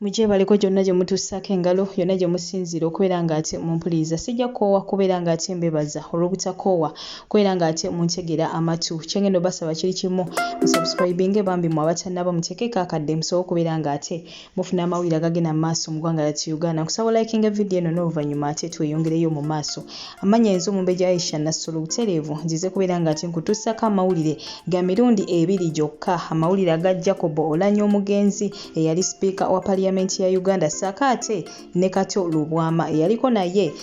mugyebaleko gyonna gye mutuusaako engalo yonna gye musinziira okubeera ng'ate mumpuliriza sijja kukoowa kubeera ng'ate mbebaza olw'obutakoowa kubeera ng'ate muntegera amatu kyengenda obasaba kiri kimu musubscribinge bambi mwe abatannaba mutekeeko akadde musobola okubeera ng'ate mufuna amawulire agagenda mu maaso mu ggwanga lyattu uganda nkusaba olayikinga vidiyo eno n'oluvannyuma ate tweyongereyo mu maaso amannya yenza omumbejja aisha nassolo butereevu nzize kubeera nga ati nkutuusako amawulire ga mirundi ebiri gyokka amawulire aga jacob olanya omugenzi eyali sipiika wa paliyamenti ya uganda saako ate ne kato lubwama eyaliko naye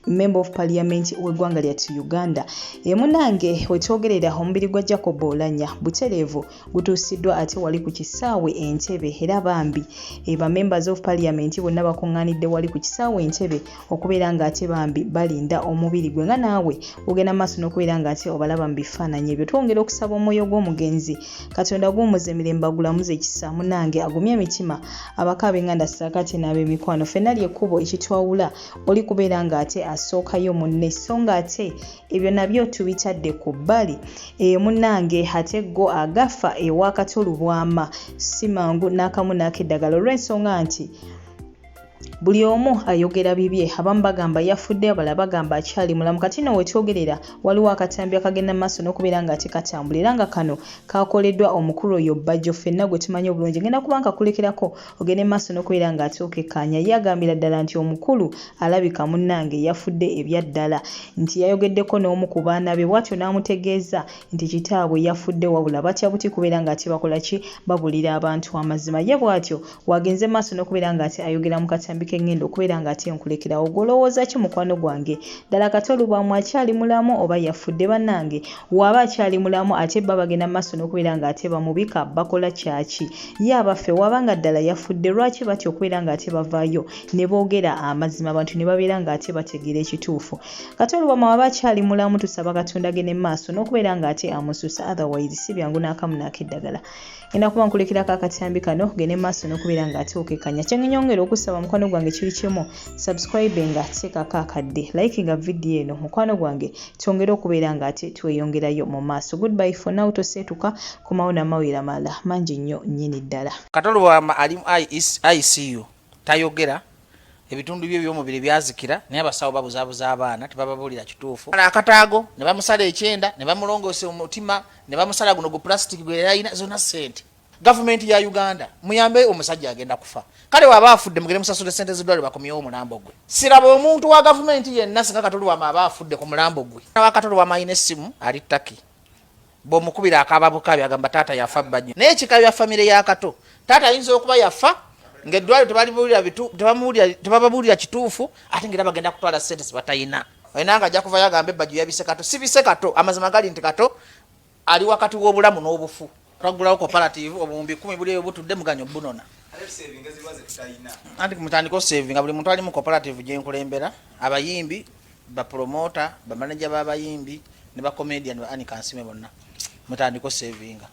member of parliament w'eggwanga lyattu uganda emunange wetwogerera omubiri gwa jacob olanya butereevu gutuusiddwa ate wali ku kisaawe entebe era bambi eh, ba members of parliament bonna bakuŋŋaanidde wali ku kisaawe entebe okubeera ng'ate bambi balinda omubiri gwe nga naawe ogenda maaso n'okubeera ng'ate obalaba mu bifaananyi ebyo twongera okusaba omwoyo gw'omugenzi katonda guwumuza emirembe agulamuza ekisa munange agumye emitima abakaaba enganda saakati n'ab'emikwano fenna lyekkubo ekitwawula oli kubeera ng'ate asookayo munne so ng'ate ebyo nabyo tubitadde ku bbali eyo munnange ate go agafa ewakati olubwama si mangu n'akamu n'akeddagala olw'ensonga nti buli omu ayogera bibye abamu bagamba yafudde abala bagamba akyali mulamu kati no wetwogerera waliwo akatambi akagenda maaso n'okubeera nga ate katambula era nga kano kakoleddwa omukulu oyo bajjo ffenna gwe tumanyi obulungi ngenda kuba nkakulekerako ogende maaso nokubeera nga ate okekkaanya ye agambira ddala nti omukulu alabika munnange yafudde ebyaddala nti yayogeddeko n'omu ku baana be bwatyo n'amutegeeza nti kitaabwe yafudde wabula batya buti kubeera nga ate bakola ki babulira abantu amazima ye bwatyo waagenze maaso nokubeera nga ate ayogera mu katambi kengenda okubeera nga ate nkulekerawo gwolowooza ki mukwano gwange ddala kati olubaamu akyali mulamu oba yafudde bannange waaba akyali mulamu ate bba bagenda maaso nokubeera nga ate bamubika bakola kyaki ye abaffe waba nga ddala yafudde lwaki batya okubeera ng'ate bavaayo ne boogera amazima abantu ne babeera ng'ate bategeera ekituufu kati olubama waba akyali mulamu tusaba katonda gene mu maaso n'okubeera ng'ate amususa otherwise si byangu n'akamu n'akeddagala enda kuba nkulekerako akatambi kano gene mu maaso n'okubeera ng'ate okekanya kyengenyongera okusaba mukwano gwange kiri kimu subscribe nga teekako akadde like nga vidiyo eno mukwano gwange twongere okubeera ng'ate tweyongerayo mu maaso goodby for now toseetuka Komawo na mawulire amalala mangi nnyo nnyini ddala. Kato Lubwama ali mu ICU tayogera, ebitundu bye by'omubiri byazikira naye abasawo babuzabuza abaana tebababuulira kituufu. Bala akataago ne bamusala ekyenda ne bamulongoosa omutima ne bamusala guno gu pulasitiki gwe yali alina zonna ssente. Gavumenti ya Uganda muyambe omusajja agenda kufa. Kale waba afudde mugere musasule sente zidwale bakomyewo omulambo gwe. Siraba omuntu wa gavumenti yenna singa Katolwama aba afudde ku mulambo gwe. Wa Katolwama alina essimu ali Turkey. bwomukubira akaaba bukabi agamba taata yafa bba nnyo naye kikabya famire ya kato taata ayinza okuba yafa ngaeddwaliro tebababuulira kituufu ate ngaera bagenda kutwala sente zibatayina olina nga ajja kuvayo agambe ebbajjo yabise kato sibise kato amazima gali nti kato ali wakati w'obulamu n'obufu twagulawo cooperative obuwumbi kumi buli eyo butudde muganyo bunona anti mutandika osavinga buli muntu ali mu cooperative gyenkulembera abayimbi Bapromoota, bamaneja b'abayimbi ne bakomedian ba Annie Kansiime bonna mutandiko savinga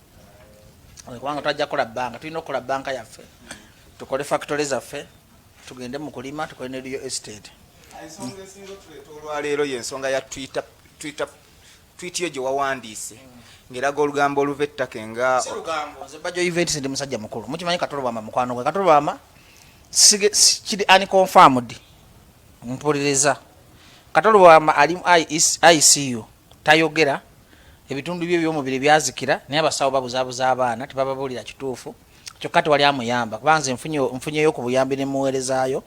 kubanga twajja kukola bbanka tulina okukola bbanka yaffe tukole factory zaffe tugende mu kulima tukole ne real estate ensonga esinga otuleeta olwaleero yensonga ya twitter twitter twiti yo gye wawandiise ngeraga olugambo oluva ettaka enga bajoiventisi ndi musajja mukulu mukimanyi katolobama mukwano gwe katolobama kiri unconfirmed mpuliriza kato lubwama ali mu icu tayogera ebitundu bye byomubiri byazikira naye abasawo babuzabuza abaana tebababuulira kituufu kyokka tewali amuyamba kuba nze nfunyeyo ku buyambi ne muweerezaayo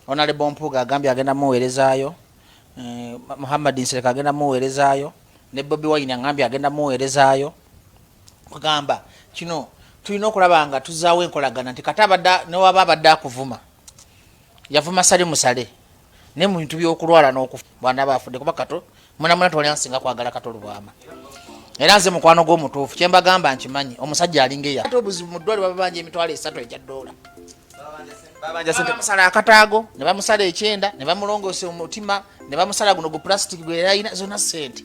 onalebo mpuuga agambye agenda muweerezaayo eh, muhammad nsereka agenda muweerezaayo ne bobi wayini agambye agenda muweerezaayo kugamba kino tulina okulaba nga tuzaawo enkolagana nti kata newaba abadde akuvuma yavuma sale musale naye mu bintu by'okulwala n'okufa bwanaba afudde kuba kato munamuna tewali ansinga kwagala kato lubwama era nze mukwano gw'omutuufu kye mbagamba nkimanyi omusajja alinga eya ate obuzibu mu ddwali bababanja emitwalo esatu egya ddoola bamusala akataago ne bamusala ekyenda ne bamulongoosa omutima ne bamusala guno gu plastic gwe yalina zonna ssente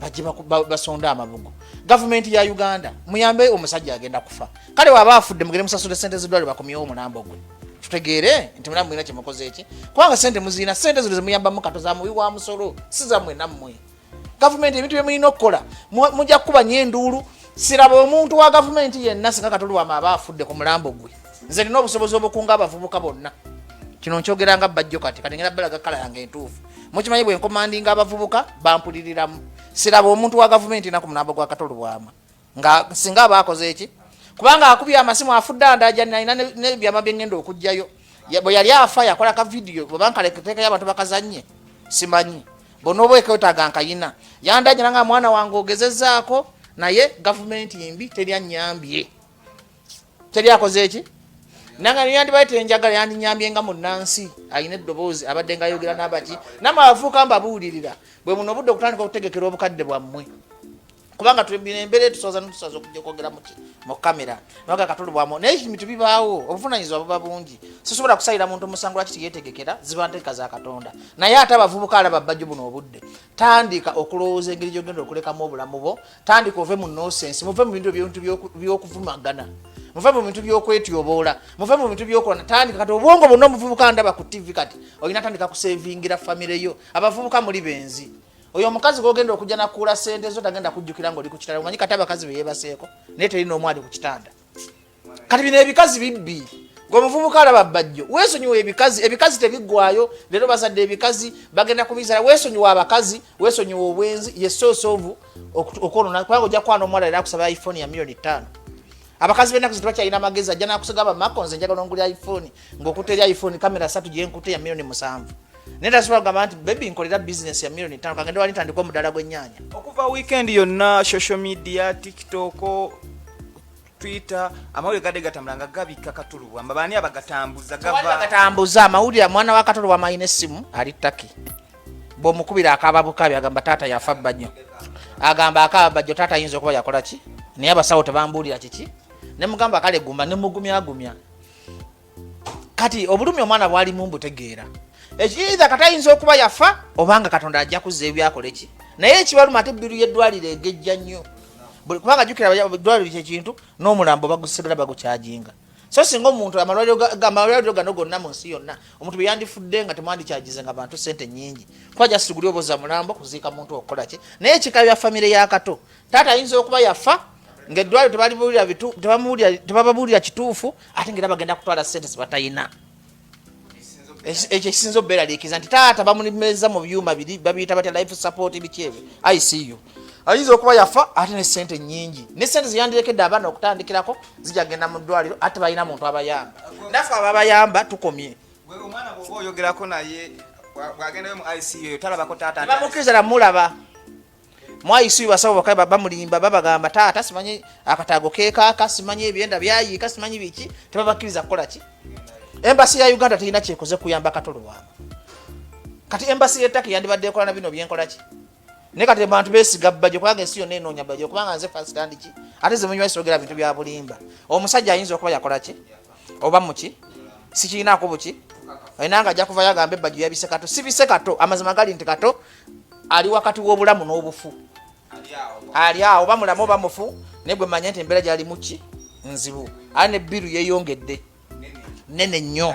bajje basonde amabugo gavumenti ya uganda muyambe omusajja agenda kufa kale waba afudde mugere musasule sente zidwale bakomyewo omulambo gwe tutegeere nti mulamu mulina kyemukoze eki kubanga sente muzirina sente zino zemuyambamu kato za muwi wa musolo si zamwe nammwe gavumenti ebintu byemulina okukola mujja kukuba nyo enduulu siraba omuntu wa gavumenti yenna singa katolwama aba afudde ku mulambo gwe nze nina obusobozi obukunga abavubuka bonna kino nkyogera nga bajjo kati kati ngenda balaga kala yange entuufu mukimanyi bwe nkomandinga abavubuka bampuliriramu siraba omuntu wa gavumenti naku munamba gwa katolo bwama nga singa aba akoze eki kubanga akubye amasimu afudde andaja nalina nebyama byengenda okugjayo bwe yali afa yakola ka vidiyo bwebankaleketekayo abantu bakazanye simanyi bona oba eketaga nkayina yandajana nga mwana wange ogezezaako naye gavumenti mbi teri anyambye teri akoze eki nanga niyandibaye tenjagala yandinyambye nga munansi alina eddoboozi abadde nga ayogera nabaki namwe abavuuka mbabuulirira bwe buno obudde okutandika okutegekera obukadde bwammwe kubanga tulina embeera etusoza netusoza okuja okwogera muki mu kamera naga katulubwamu naye ebintu bibaawo obuvunanyizibwa buba bungi sisobola kusalira muntu omusango lwaki tiyetegekera ziba nteeka za katonda naye ate abavubuka alaba bajjo buno obudde tandika okulowooza engeri gyogenda okulekamu obulamu bwo tandika ove mu nosensi muve mu bintu ebintu byokuvumagana muve mu bintu byokwetyoboola muve mu bintu byokolana tandika kati obwongo bwonna omuvubuka ndaba ku tivi kati olina tandika kusevingira famire yo abavubuka muli benzi oyo omukazi gogenda okujja nakuula sente zo tagenda kujjukira ngaoli ku kitanda omanyi kati abakazi beyebaseeko naye teri noomu ali ku kitanda kati bino ebikazi bibbi gwe omuvubuka alaba bajjo wesonyiwa ebikazi ebikazi tebigwayo leero bazadde ebikazi bagenda kubizala wesonyiwa abakazi wesonyiwa obwenzi yesoosovu okwonona kubanga ojja kwana omuwala era akusaba iphone ya milioni ttaano abakazi benaku zitebakyalina amagezi ajja nakusiga bamako nze njagala ongulya iphone ngaokuta eri iphone kamera satu gyenkuta ya milioni musanvu naye tasobola kugamba nti bebi nkolera business ya milioni ttaano kangende wali ntandika omudala gwennyanya okuva weekend yonna social media tiktok twitter amawulire gadde gatambula nga gabikka katulubwa mba baani abagatambuza gavagatambuza amawulire mwana wa katulubwa amalina essimu ali taki bwomukubira akaaba bukabi agamba taata yafa bbanyo agamba akaaba bajjo taata ayinza okuba yakola ki naye abasawo tebambuulira kiki nemugamba kale guma nemugumyagumya kati obulumi omwana bwalimu mbutegeera ekiiza kati ayinza okuba yafa obanga katonda ajja kuzza ebyakola eki naye ekibaluma ate biru yeddwaliro egejja nnyo kubanga jukira dwaliro kyekintu n'omulambo bagusigala bagukyajinga so singa omuntu amalwaliro gano gonna mu nsi yonna omuntu beyandifudde nga temwandikyajize nga bantu sente nyingi kuba jasiguli oboza mulambo kuziika muntu okukolaki naye ekika bya famire yakato taata ayinza okuba yafa ngaeddwaliro tebababuulira kituufu ate ngaera bagenda kutwala sente zibatayina ekyo ekisinza obubeeraliikiza nti taata bamulimeza mu byuma biri babiyita batya life support biki ebyo icu ayinza okuba yafa ate ne sente nyingi ne sente zeyandirekedde abaana okutandikirako zija genda mu ddwaliro ate balina muntu abayamba naffe ababayamba tukomye omwana bwoba oyogerako naye bwagendayo mu icu talabako taata bamukiriza namulaba mwayisi basawo bakaba bamulimba babagamba taata simanyi akataago kekaaka simanyi ebyenda byayiika simanyi biki tebabakkiriza kukola ki embasi ya uganda terina kyekoze kuyamba katolowama kati embasi yetaki yandibadde ekola na bino byenkola ki naye kati bantu besiga bajo kubanga ensi yonna enoonya bajo kubanga nze fasitandi ki ate zemunywaisogera bintu bya bulimba omusajja ayinza okuba yakola ki oba muki sikirinaako buki enanga ajja kuvayo agambe bajo yabise kato sibise kato amazima gali nti kato ali wakati w'obulamu n'obufu ali awo bamulamu oba mufu naye gwe manya nti embeera gyalimu ki nzibu ali ne biru yeyongedde nene nnyo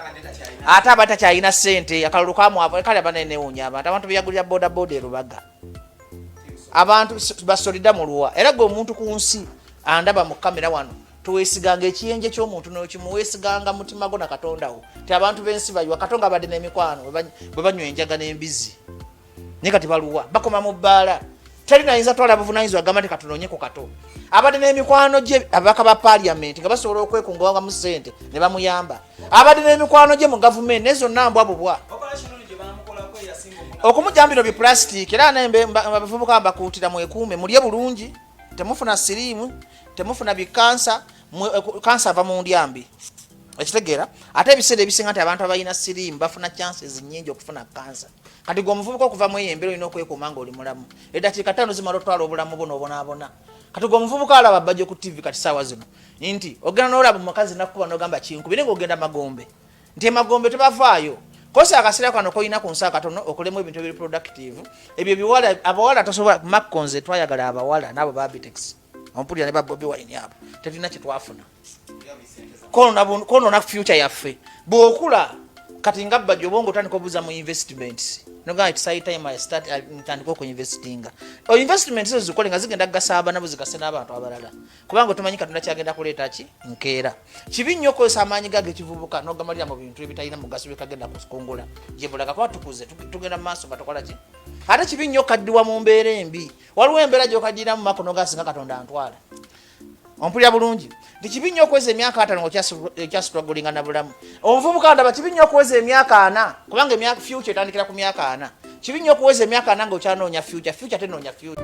ate aba takyalina sente akalulu kamwakale aba nenewunya abantu abantu beyagulira bodaboda erubaga abantu basolida muluwa era gwe omuntu ku nsi andaba mu kamera wano towesiganga ekiyenje kyomuntu nokimu wesiganga mutima gwo na katonda wo ti abantu bensi bayiwa katonga abadde nemikwano bwe banywa enjaga n'embizi naye kati baluwa bakoma mu bbaala teri nayinza twala buvunanyizibwa agamba nti katunonye ku kato abadde n'emikwano gye ababaka ba paliamenti nga basobola okwekungawangamu sente ne bamuyamba abadde n'emikwano gye mu gavumenti naye zonna mbwa bubwa okumujambira bipulastiki era naye abavubuka mbakuutira mwekuume mulye bulungi temufuna siriimu temufuna bikansa eh, kansa ava mu ndya mbi ekitegeera ate ebiseera ebisinga nti abantu abalina siriimu bafuna chances nyingi okufuna kansa kati gwe omuvubuka okuva mu eyo embeera olina okwekuuma nga oli mulamu eddakiika ttaano zimala otwala obulamu bwo nobonaabona kati gwe omuvubuka alaba bajja ku tivi kati saawa zino nti ogenda nolaba omukazi nakukuba nogamba kinkubi naye nga ogenda magombe nti emagombe tebavaayo kosi akasera kano kolina ku nsaa katono okolemu ebintu ebiri productive ebyo biwala abawala tosobola makko nze twayagala abawala naabo babitex ompulira ne babobi wayini abo tetulina kyetwafuna konona future yaffe bwokula kati nga bba gyobonga otandika obuza mu investments ntandika okuinvestinga investments ezo zikole nga zigenda kugasa abana bo zigase n'abantu abalala kubanga otomanyi katonda kyagenda kuleeta ki nkeera kibi nnyo okozesa amaanyi gage kivubuka nogamalira mu bintu ebitalina mugaso byekagenda kukungula gyebulaga kuba tukuze tugenda mu maaso nga tukola ki ate kibi nnyo kaddiwa mu mbeera embi waliwo embeera gyokadiramu mako nogasinga katonda antwala ompulira bulungi nti kibi nnyo okweza emyaka atano ngaokyasitwagulinga na bulamu Omuvubuka ndaba kibi nnyo okuweza emyaka ana kubanga emyaka future etandikira ku myaka ana. Kibi nnyo okuweza emyaka ana nga okyanoonya future, future tenoonya future.